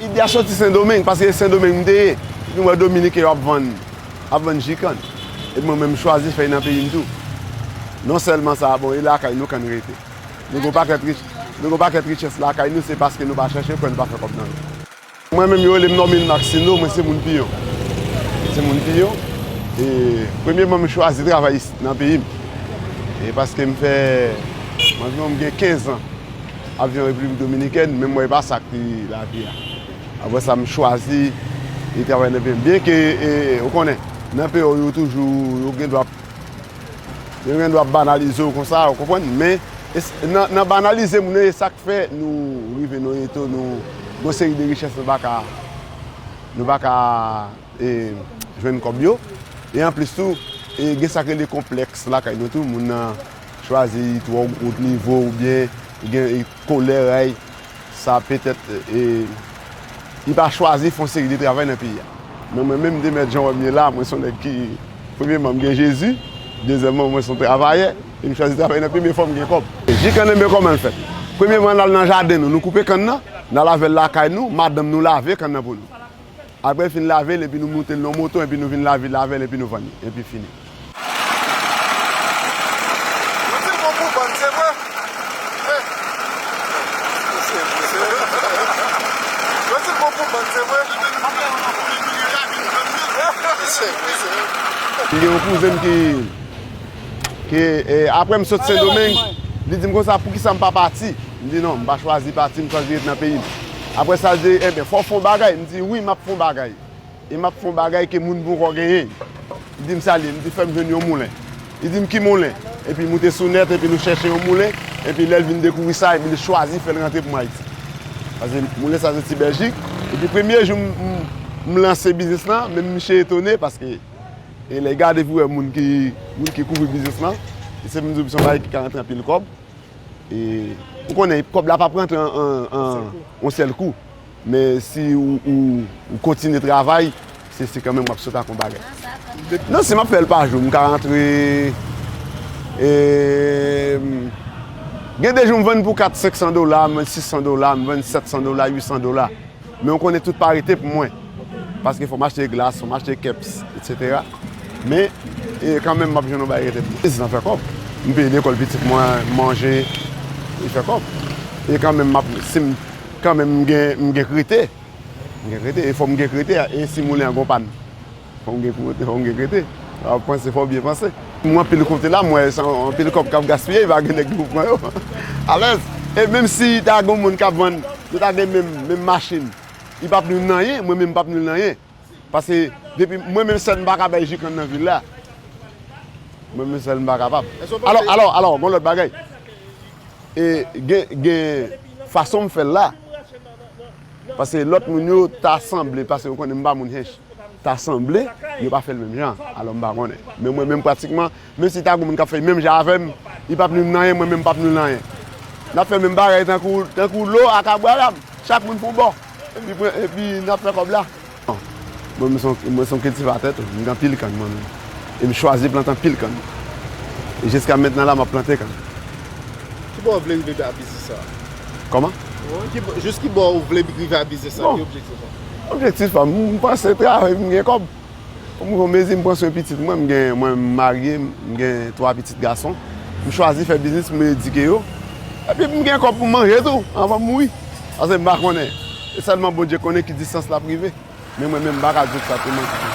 Ide a soti Sendomeng, paske se Sendomeng m te ye. Epi m wè Dominiken yo ap vann, ap vann ji kann. Epi mwen menm m chwazi fèy nan peyi m tou. Non sèlman sa, bon e lakay nou kann rete. Nou gen yon pakèt richès lakay nou, se paske nou pa chèche l, kwè nou pa fè kòb nan l. Mwen menm yo rele m Normil Maxino, mwen se moun Piyon. Mwen se moun Piyon, e premyeman m chwazi travay isit nan peyi m. E paske m fè, anviwon m gen 15 an ap viv an Repiblik Dominikèn, men m wè e pa sa k pi lavi a. Apre sa m chwazi travay nan peyi m. Byenke, ou konnen, nan peyi w yo toujou, yo gen dwa. Yo gen dwa banalize w konsa, ou konprann? Men, nan banalize moun yo, e sa k fè nou rive nan yon eto nou yon seri de richès nou pa ka, nou pa ka jwenn kòb yo. E anplis tou, gen sa k rele konplèks lakay nou tou, moun nan chwazi twò wo nivo oubyen gen. Kolè ray sa petèt li pa chwazi fon seri de travay nan peyi a. Men mwen menm Demet Jean wè m ye la, mwen son nèg ki premyeman m gen Jezi, dezyèmman mwen son travayè e m chwazi travay nan peyi m e fò m gen kòb. Ji kannenbe kòman l fèt? Premyeman n al nan jaden nou, nou koupe kann nan, n al avè l lakay nou, madanm nou lave kann nan pou nou. Apre fin lave l epi nou moute l nan yon moto epi nou vin lavi l avè l epi nou vann li. Epi fini. M gen yon kouzen m ki. Ke apre m sot Sendomeng, li di m konsa poukisa m pa pati. M di non, m pa chwazi pati, m chwazi ret nan peyi m. Apre sa l di, enben fò w fè yon bagay. M di wi, m ap fè yon bagay. E m ap fè yon bagay ke moun ponkò genyen. Li di m sa l ye. M di fè m jwenn yon moulen. Li di m ki moulen? Epi moute sou nèt epi nou chèche yon moulen. Epi lè l vin dekouvri sa, epi li chwazi fè l rantre pou m Ayiti. Pase moulen sa soti Bèljik. Epi premye jou m lanse biznis lan, menm miche etone paske. E lè gade pou wè moun ki kouvri biznis lan, e se m di w son bagay ki ka rantre anpil kòb. E ou konnen kòb la pap rantre an yon sèl kou. Men si ou kontinye travay, se kanmenm w ap sot ak yon bagay. Non si m ap fè l pa jou, m ka rantre, e gen de jou m vann pou 4, 500 dola, m vann 600 dola, m vann 700 dola, 800 dola. Men ou konnen tout pa rete pou mwen. Paske fòm achte glas, fòm achte keps, etc. Men, e kanmenm map jwenn yon bagay rete pou mwen. Biznis lan fè kòb. M peye lekòl pitit mwen, m manje, li fè kòb. E kanmenm map, si m, kanmenm m gen, m gen krite. M gen krite, e fòm gen krite, e si moulen an gon pàn. Fò w gen pou rete, fò w gen pou rete. Lè w ap panse, fò w byen panse. Mwen anpil kote la, mwen wè se anpil kòb k ap gaspiye, e pa gen nèg ki pou pran yo. Alèz! E menm si ta gen yon moun k ap vann, nou ta gen menm machin, li pap nou nan anyen, mwen menm m pap nou nan anyen. Pase, depi, mwen menm sèl m pa ka bay ji kann nan vil la. Mwen menm sèl m pa kapab. Alò, alò, alò, gon lòt bagay. E gen, gen fason m fè l la. Pase lòt moun yo ta sanble, pase yo konnen m pa moun Hinche. ta sanble yo pa fèl menm jan alò m pa konnen men mwen menm pratikman menm si ta gon moun kap fèl menm jan avèm li pap nwi m nan anyen mwen menm m pap nwi l nan anyen nap fè menm bagay tankou tankou lo ak abraram chak moun pou yon bò epi pran epi nap fè kòb la mwen menm mwen son kiltivatè tou m gen anpil kann mwen menm e m chwazi plante anpil kann e jiska mentnan la map plante kann. Ki bò ou vle rive a biznis sa? Kòman? Jis ki bò ou vle rive a biznis sa ki objektif ou? Objektif pa m, m panse travay pou m gen kòb. Pou m mezi m pran swen pitit mwen, m gen mwen m marye, m gen 3 pitit gason. M chwazi fè biznis pou m edike yo. Epi pou m gen kòb pou m manje tou anvan m mouri. Pase m pa konnen, se sèlman Bondye konnen ki distans l ap rive. Men mwen menm m pa ka di w egzakteman.